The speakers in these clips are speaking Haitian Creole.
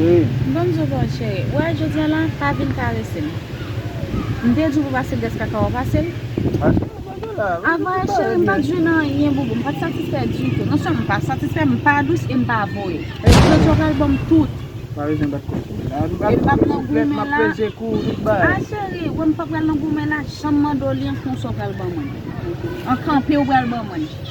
Bonjou boo cheri, ou wè jodi an la pa vin karese m. M te di w pou pase grès kaka w a pase l? Avanyè cheri m pat jwenn anyen boo boo, m pat satisfè ditou. Non sèlman m pa satisfè, m pa dous e m pa voye. Alòs jodi an w pral ban m tout? E m pap nan goumen la. A cheri, wè m pap pral nan goumen la, jan m mande w li an konsa w pral ban mwen l. An kanpe w pral ban mwen l.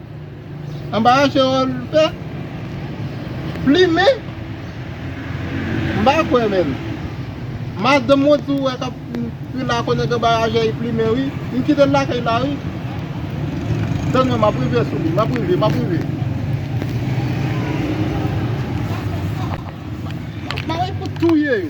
Anbara Gerald fè plimen m pa kwè menm madanm ou di ou wè kap pi la konnen ke anbara Jay plimen wi m kitel lakay la wi tann mwen map rive sou li map rive map rive map pare pou touye yo.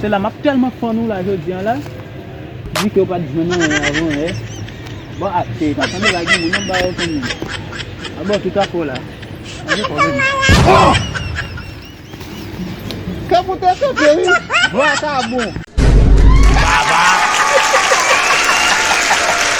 Se la map telman fann ou la jodi an la Di ke ou pat jwenn anyen avan e Bon ak te ka tande la gen moun anba yo fanmi A bon tout ak ou la An gen pwoblem Kèm ou te sote wi Vwa sa bon.